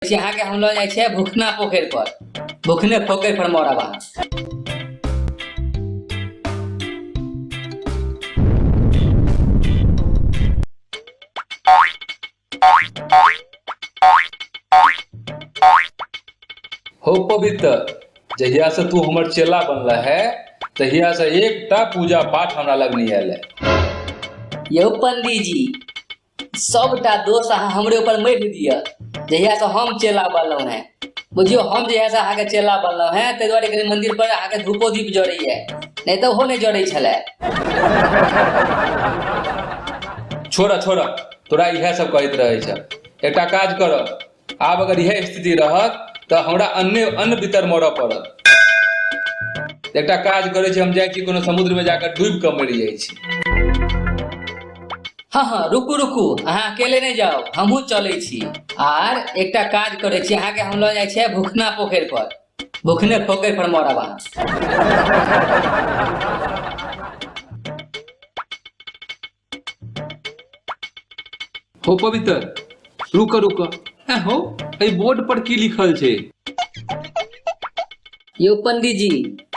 छी अहाँके हम लऽ जाइ छियै भुखना पोखरि पर भुखने पोखरि पर मरब अहाँ हो पवित्र जहिया से तू हमर चेला बनला है तहिया से एकटा पूजा पाठ हमरा लग नहीं आयल है यौ पंडीजी सबटा दोष अहाँ हमरे ऊपर मरि दिअ जहियासँ हम चेला बनलहुँ हेँ बुझियौ हम जहियासँ अहाँके चेला बनलहुँ हेँ ताहि दुआरे कनि मन्दिर पर अहाँके धूपो दीप जड़ैए नहि तऽ ओहो नहि जड़ै छलै छोड़ऽ छोड़ऽ तोरा इएह सब कहैत रहै छ एकटा काज करऽ आब अगर इहे स्थिति रहत तऽ हमरा अन्ने अन्न भीतर मरऽ पड़त एकटा काज करै छी हम जाइ छी कोनो समुद्रमे जाकऽ डूबि कऽ मरि जाइ छी हँ हँ रुकू रुकू अहाँ अकेले नहि जाउ हमहूँ चलै छी आर एकटा काज करै छी अहाँके हम लऽ जाइ छियै भुखना पोखरि पर भुखने पोखरि पर मरब अहाँ हो पवित्र रुक रुक ए हो ए बोर्ड पर की लिखल छै यो पंडित जी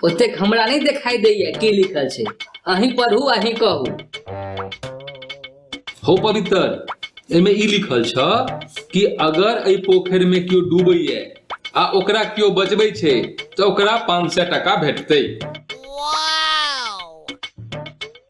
ओतेक हमरा नहीं दिखाई दैया की लिखल छै अहीं पढ़ू अहीं कहू हो पवित्र एहिमे ई लिखल छ कि अगर एहि पोखरि में केओ डूबैए आ ओकरा केओ बचबै छै तऽ ओकरा पाँच सए टाका भेटतै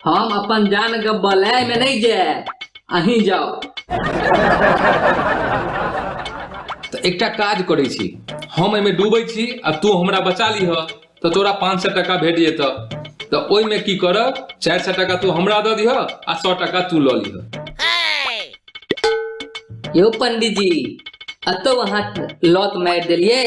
हम अपन जान के बलय में नहीं जाए अहीं जाओ तऽ एकटा काज करै छी हम एहिमे डूबै छी आ तू हमरा बचा लिह तऽ तोरा पाँच सए टाका भेट जेतऽ तऽ ओहिमे की करब चारि सए टाका तू हमरा दऽ दिह आ सए टाका तू लऽ लिह यो पंडीजी अतौ अहाँ लॉत मारि देलियै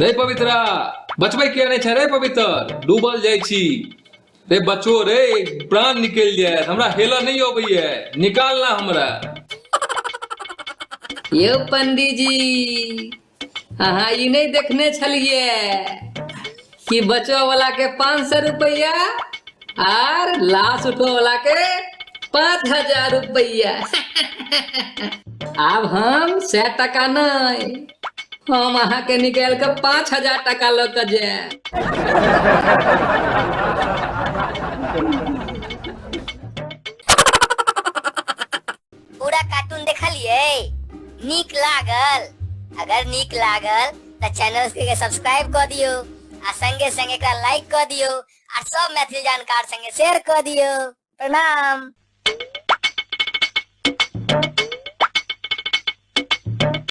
रे पवित्रा बचबै किया नहि छै रे पवित्र डूबल जाइ छी रे बचो रे प्राण निकलि जाय हमरा हेलऽ नहि अबैया निकालना हमरा यौ पंडीजी अहाँ ई नहि देखने छलियै कि बचो वाला के पाँच सौ रुपया आर लाश उठो वाला के पाँच हजार रुपया आब हम सै टका नहीं हम अहाँ के निकाल के पाँच हजार टका लऽ के जायब पूरा कार्टून देखलिए नीक लागल अगर नीक लागल त चैनल के सब्सक्राइब क दियो आ संगे संगे एकरा लाइक क दियो आ सब मैथिली जानकार संगे शेयर क दियो प्रणाम